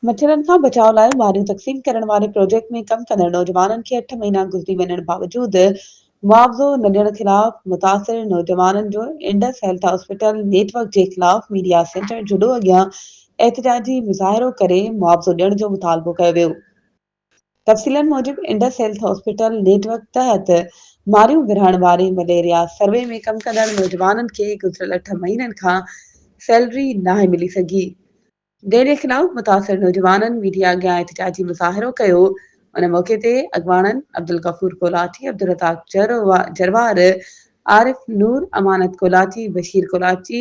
مڇرن کان بچاء لاء ماريون تقسيم ڪرڻ واري پروجيڪٽ ۾ ڪم ڪندڙ نوجوانن کي اٺ مهينا گذري وڃڻ باوجود معاوضو نه ڏيڻ خلاف متاثر نوجوانن جو Indus health hospital network جي خلاف ميڊيا سينٽر جهڏو اڳيان احتجاجي مظاهرو ڪري معاوضو ڏيڻ جو مطالبو ڪيو ويو. تفصيلن موجب Indus health hospital network تحت ماريون ورهائڻ واري مليريا سروي ۾ ڪم ڪندڙ نوجوانن کي گذريل اٺ مهينن کان سيلري ناهي ملي سگهي، ديري خلاف متاثر نوجوانن ميڊيا اڳيان احتجاجي مظاهرو ڪيو، ان موقعي تي اڳواڻن عبدالغفور ڪولاچي، عبدالرزاق جروار، عارف نور، امانت ڪولاچي، بشير ڪولاچي،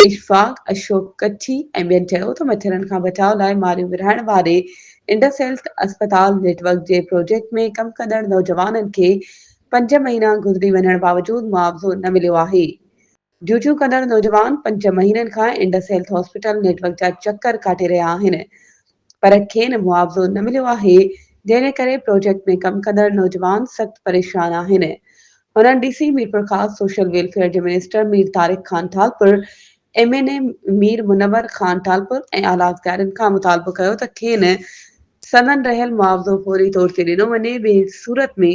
اشفاق، اشوڪ ڪڇي ۽ ٻين چيو ته مڇرن کان بچاء لاء ماريون ورهائڻ واري انڊس هيلٿ اسپتال نيٽ ورڪ جي پروجيڪٽ ۾ ڪم ڪندڙ نوجوانن کي پنج مهينا گذري وڃڻ باوجود معاوضو نه مليو آهي، ڊيوٽيون ڪندڙ نوجوان پنج مهينن کان Indus health hospital network جا چڪر ڪاٽي رهيا آهن پر کين معاوضو نه مليو آهي جنهن جي ڪري پروجيڪٽ ۾ ڪم ڪندڙ نوجوان سخت پريشان آهن هنن D C Mirpurkhas social welfare جي minister Mir Tariq Khan Talpur M N A Mir Munawar Khan Talpur ۽ اعليٰ اختيارين کان مطالبو ڪيو ته کين سندن رهيل معاوضو فوري طور تي ڏنو وڃي ٻي صورت ۾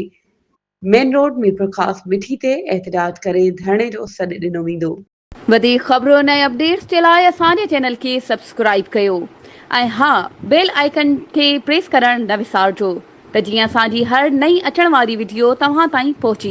مين روڊ ميرپورخاص مٺي تي احتجاج ڪري ڌرڻي جو سڏ ڏنو ويندو. وڌيڪ خبرون ۽ اپڊيٽس جي لاء اسان جي چينل کي سبسڪرائيب ڪيو ۽ ها بيل آئيڪن کي پريس ڪرڻ نه وسارجو ته جيئن اسان جي هر نئين اچڻ واري وڊيو توهان تائين پهچي